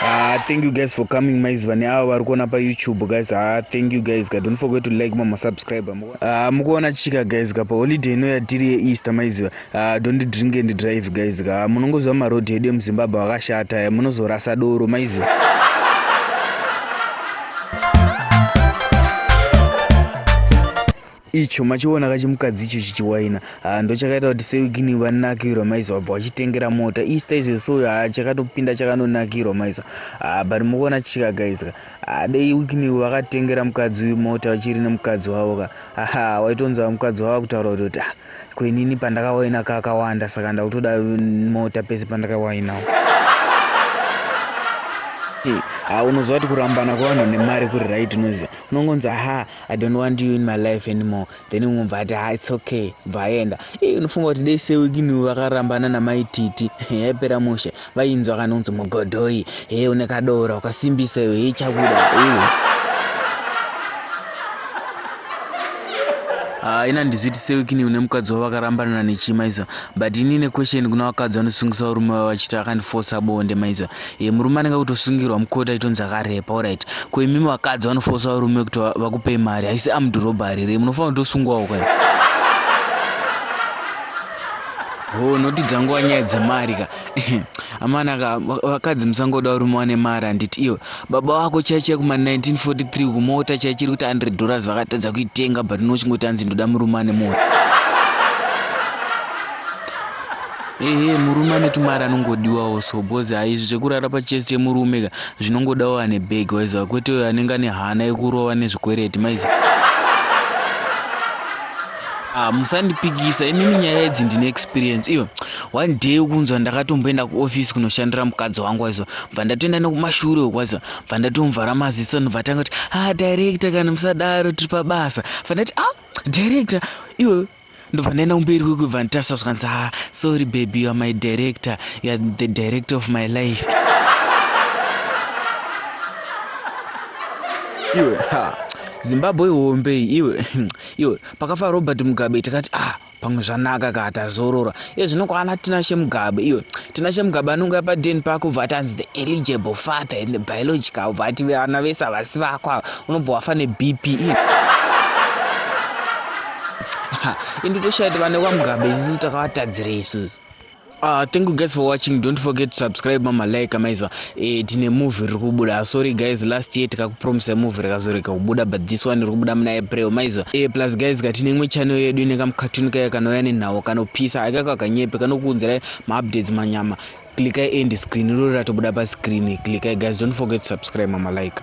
Ah, thank you guys for coming maizi vane ava vari kuona payoutube guys ah, thank you guys ka don't forget to like mama subscribe ah, mukuona chika guys ka pa holiday ino yatiri yeeaster maiziva ah, don't drink and drive guys ka ah, munongoziva maroad edu emuzimbabwe akashata eh, munozorasa doro maiziva icho machiona kachimukadzi icho chichiwaina haa ndochakaita kuti sewigini vanakirwa maiso vabva vachitengera mota easter izvo so haa chakatopinda chakanonakirwa maiso haa but mukuona chichikagaizika haa dei wigini vakatengera mukadzi uyu mota vachiri nemukadzi wavo ka haa waitonzwa mukadzi wavo kutaura kuti kuti ah kwenini pandakawaina kakawanda saka ndakutoda mota pese pandakawainawo haa unoziva kuti kurambana kwevanhu nemari kuri right unoziva unongonzi ahaa I don't want you in my life anymore then umwe bva ati ha it's okay bva aenda iye unofunga kuti dei sewikiniwo vakarambana namai titi yaipera mushe vainzwa kana unzi mugodhoyi hee une kadora ukasimbisa iwe hei chakuda iwe Ah, ina ndizviti sewikini une mukadzi wavo vakarambanana nechii maiza but ini ine question kuna vakadzi vanosungisa varume vavo vachiti akandifosa bonde maiza Iye murume anenge kutosungirwa mukoti aitonzi akarepa orit ko imimi vakadzi vanofosa varume kuti vakupei mari haisi amdurobhari here munofanira kutosungwawo kwai ho noti dzanguva nyaya dzemari ka amana ka vakadzi musangoda varume wane mari handiti iyo baba vako chai chai kuma 1943 kumota chai chiri kuti 100 dollars vakatadza kuitenga but nochingoti hanzi ndoda murume ane mota ehe murume ane tumari anongodiwawo so bcoz haizvi zvekurara pachest yemurume ka zvinongodawo ane bag waiziva kwete uyo anenge ane hana yekurova nezvikwereti maizi ah, musandipikisa imimi nyaya idzi ndine experience iyo one day ukunzwa ndakatomboenda kuoffice kunoshandira mukadzi wangu waiziva bva ndatoenda nekumashure wekwaziva bva ndatomuvhara maziso nobvatanga kuti ah director kana musadaro tiri pabasa bva ndati ah director iwe ndobva ndaenda kumberi kwekubva nditasa zvikanzi ha ah, sorry baby youare my director youare the director of my life iwe ha zimbabwe ihombei iwe iwe pakafa robert mugabe takati ah pamwe zvanaka ka tazorora ezvino kwana tinashe mugabe iyo tinashe mugabe anongouya paden pako bva atanzi the eligible father and the biological bva ati vana vese havasi vako ava unobva wafa nebp iyo indi toshaiti vane kwamugabe isusu takavatadzire isusu Uh, thank you guys for watching. Don't forget to subscribe, mama, like, amazwa. Eh, tine movie riri kubuda sorry guys last year tikakupromisa movie rakazorega kubuda but this one riri kubuda muna april maiza e, eh, plus guys ka tine imwe channel yedu ine kamukatuni kaya kanouya nenhau kanopisa aka kakanyepe kanokuunzirai maupdates manyama klikai end screen irori ratobuda pascreen klikai guys don't forget to subscribe mamalike